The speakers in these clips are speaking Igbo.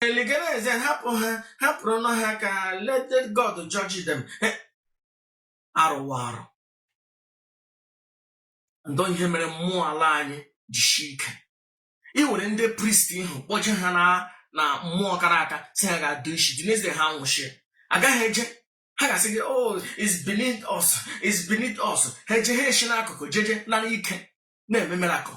eligeneze hapụ ha hapụrụnụ ha ka let God judge them arụwa arụ ndọ ihe mere mmụọ ala anyị jishi ike ị were ndị priest ahụ kpọje ha na na mmụọ kara aka si ha ga-adụ isi dị n'ezie ha nwụchi agaghị eje ha ga-asị gị oh it's beneath us it's beneath us ha eje ha eshi n'akụkụ jeje nara ike na-eme miracle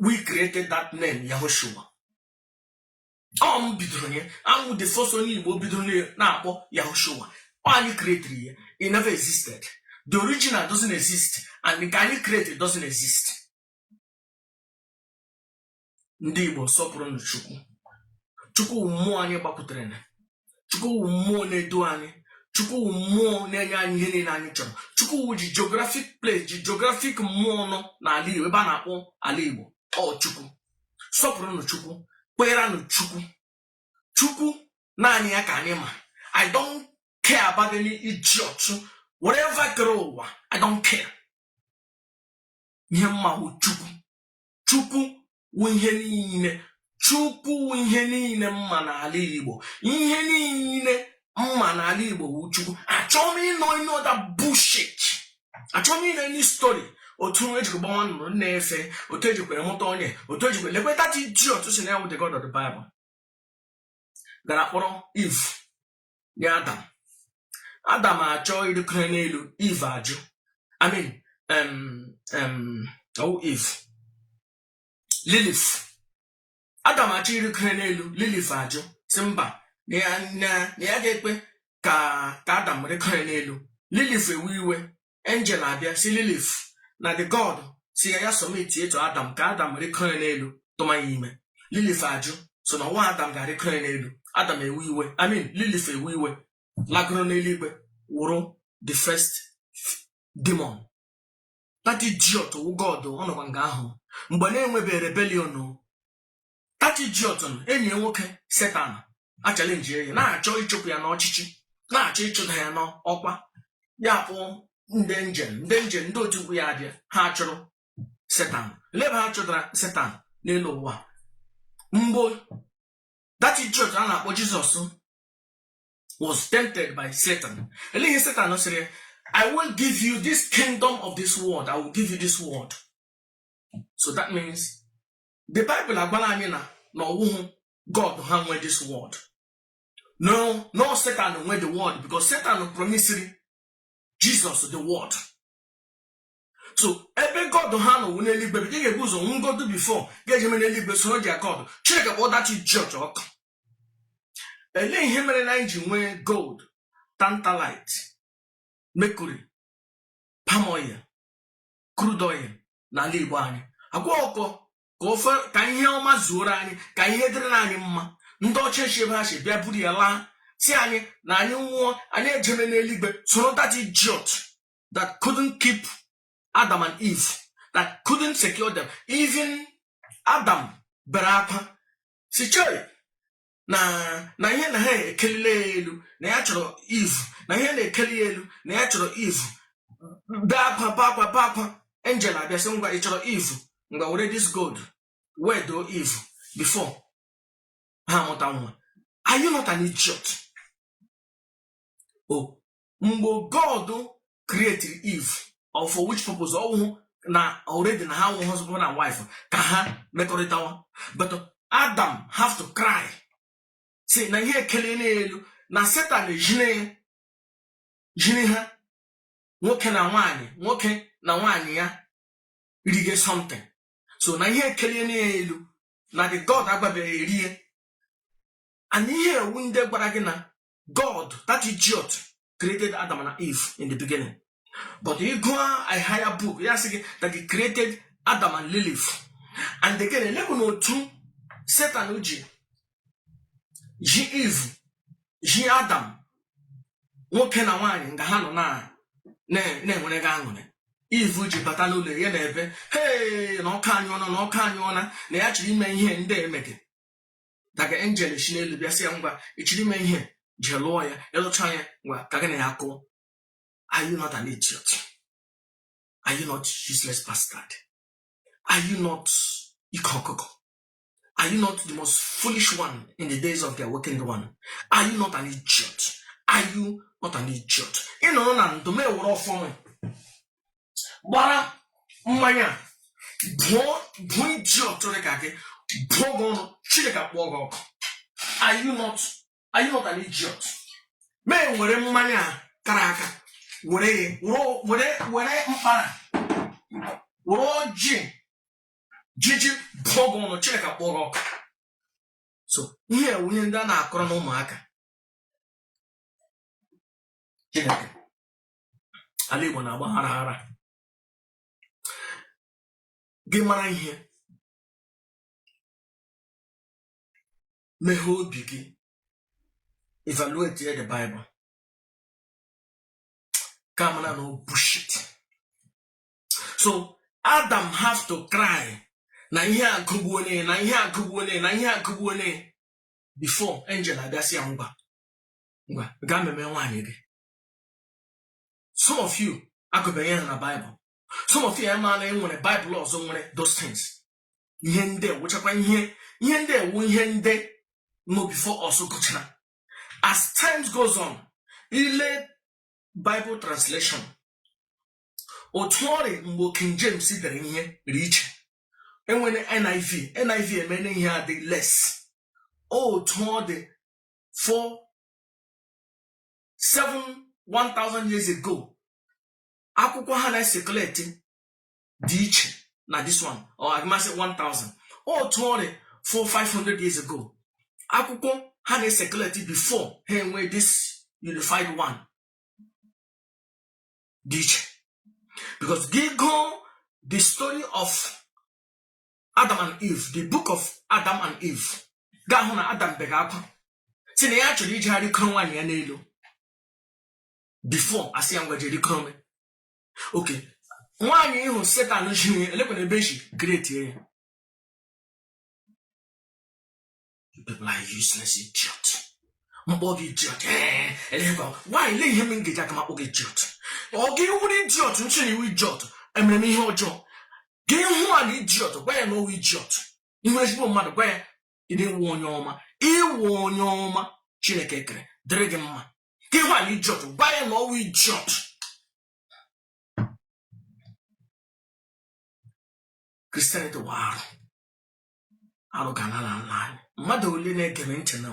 we created that name Yahushua ọ m bidoro ya awụ m the first onye Igbo bidoro na-akpọ Yahushua ọ anyị created ya it never existed the original doesn't exist and nke anyị created doesn't exist ndị Igbo sọpụrụnụ Chukwu Chukwu wụ mmụọ anyị gbakwutere na chukwu wụ mmụọ na-edu anyị chukwu wụ mmụọ na-enye anyị ihe niile anyị chọrọ chukwu wụ ji geographic place ji geographic mmụọ nọ n'ala igbo ebe a na-akpọ ala igbo ọ chukwu sọpụrụnụ chukwu kweeranụ chukwu chukwu naanị ya ka anyị ma i don't care about any idiot whatever kere ụwa i don't care ihe m ma wụ chukwu chukwu wụ ihe niile chukwu wụ ihe niile m ma n'ala igbo ihe niile m ma n'ala igbo wụ chukwu achọghị m ịnụ any other bullshit achọghị m ịnụ any story otu nwa ejikwa gbanwa nụrụ na-efe otu ejikwere mụta onye otu ejikwa lekwe that idiot si na ya wụ the god of the bible gara kpọrọ eve nye adam adam achọ ịrịkọrọ n'elu eve ajụ i mean ọ wụ eve lilith adam achọ ịrịkọrọ n'elu lilith ajụ si mba na ya ga-ekwe ka ka adam rịkọrọ n'elu lilith ewe iwe angel abịa si lilith na the god si ya ya submit to adam ka adam rịkọọ ya n'elu tụma ya ime lilith ajụ si na ọ nwa adam ga-arịkọọ ya n'elu adam ewe iwe i mean lilith ewe iwe lagoro n'eluigwe wụrụ the first demon that idiot wụ god ọ nọkwa nga ahụ mgbe na-enwebeghị rebellion o that idiot enyi ya nwoke Satan achallenge ya na-achọ ịchụpụ ya n'ọchịchị na-achọ ịchụda ya n'ọkwa ya akpọ ndị angel ndị angel ndị otu ukwu ya abịa ha chụrụ Satan lee ebe ha chụdara Satan n'elu ụwa mgbe that idiot a na-akpọ Jesus was tempted by Satan lee ihe Satan sịrị ya I will give you this kingdom of this world I will give you this world so that means the Bible agwala anyị na na ọwụhụ God ha nwe this world na ọ Satan nwe the world because Satan promisiri Jesus the world so ebe God ha nọ wụ n'eluigwe ị ga-ebu ụzọ nwụgodu before ga-ejeme n'eluigwe soro their God Chineke kpọọ that church ọkụ elee ihe mere na anyị ji nwee gold tantalite mercury palm oil crude oil n'ala Igbo anyị agwa ọkọ ka ofe ka ihe ọma zuoro anyị ka ihe dịrị anyị mma ndị ọcha esi ebe ha si bịa buru ya laa sị anyị na anyị nwụọ anyị ejeme n'eluigwe soro that idiot that couldn't keep Adam and Eve that couldn't secure them even Adam bere akwa sị chee na na ihe na ha ekelile ya elu na ya chọrọ Eve na ihe na-ekeli ya elu na ya chọrọ Eve bee akwa bee akwa bee akwa angel abịa sị ngwa ị chọrọ Eve ngwa were this gold wedoo Eve before ha amụta nwa are you not an idiot o mgbe god created eve or for which purpose ọwụhụ na already na ha wụ husband and wife ka ha mekọrịtawa but adam have to cry sị na ihe ekeliena ya elu na satan ejine jiri ha nwoke na nwaanyị nwoke na nwaanyị ya rige something so na ihe ekeliena ya elu na the god agbabeghị erie and ihe ewu ndị gwara gị na God, that idiot, created Adam and Eve in the beginning. But ị gụọ higher book, ya sị gị that he created Adam and Lilith. And again, elekwanụ otu Satan ji ji Eve, ji Adam, nwoke na nwaanyị nga ha nọ na-enwerega aṅụrị Eve ji bata n'ụlọ ya na ebe hee na ọka anyụọna na ọka anyụọna na ya chọrọ ime ihe ndị emegị daga angel esi n'elu bịa sị ya ngwa ị chọrọ ime ihe jee lụọ ya ị lụcha ya ngwa ka gị na ya kụọ are you not an idiot are you not useless bastard are you not ike ọkụkọ are you not the most foolish one in the days of the awakened one are you not an idiot are you not an idiot ị nọrọ na ndụ m ewere ọfọ gbara mmanya bụọ idiot dị ka gị bụọ gị ọnụ chineke kpọọ gị ọkụ are you not are you not an idiot mee were mmanya a kara aka were ya were were mkpara were ọjị jiji bụọ gị ọnụ chineke kpọọ gị ọkụ so ihe nwunye ndị a na-akọrọ na ụmụaka chineke ala igbo na-agba ghara ghara gị mara ihe meghee obi gị evaluate the bible ka mara na ọ bullshit so adam have to cry na ihe agụgbuole ya na ihe agụgbuole ya na ihe agụgbuole ya before angel abịa sị ya ngwa ngwa gaa meme nwaanyị gị some of you agụbeghị ya na baịbụl some of you ama na e nwere baịbụl ọzọ nwere those things ihe ndị wụchakwa ihe ihe ndị wụ ihe ndị nọ before us gụchara as times goes on i lee baịbụl translation otu ọ rị mgbe King James dere ihe rị iche enwere NIV NIV emere ihe adị less otu ọ dị for sị 1000 years ago akwụkwọ ha na-ecirculate dị iche na this one or ka m sị 1000 otu ọ rị for 500 years ago akwụkwọ ha na-ecirculate before ha enwee this unified one dị iche because gị gụọ the story of adam and eve the book of adam and eve ga-ahụ na adam bega akwa sị na ya chọrọ ije ga rikoro nwaanyị ya n'elu before a sị ya ngwa je rikoro okay nwaanyị ịhụ setan ji elekwana ebe e si create ya You people are useless idiot. Mkpọ gị idiot. Ee, elekwa, nwaanyị lee ihe m ga-eji aka m akpọ gị idiot. Ọ gị wụrụ idiot m sị na ị wụ idiot. Emere m ihe ọjọọ. Gị hụ a na idiot, gwa ya na ọ wụ idiot. Ị hụ ezigbo mmadụ, gwa ya ị wụ onye ọma. Ị wụ onye ọma Chineke kere, dịrị gị mma. Gị hụ a na idiot, gwa ya na ọ wụ idiot. christianity wụ arụ arụ ga-ala n'ala anyị mmadụ ole na-ege m ntị na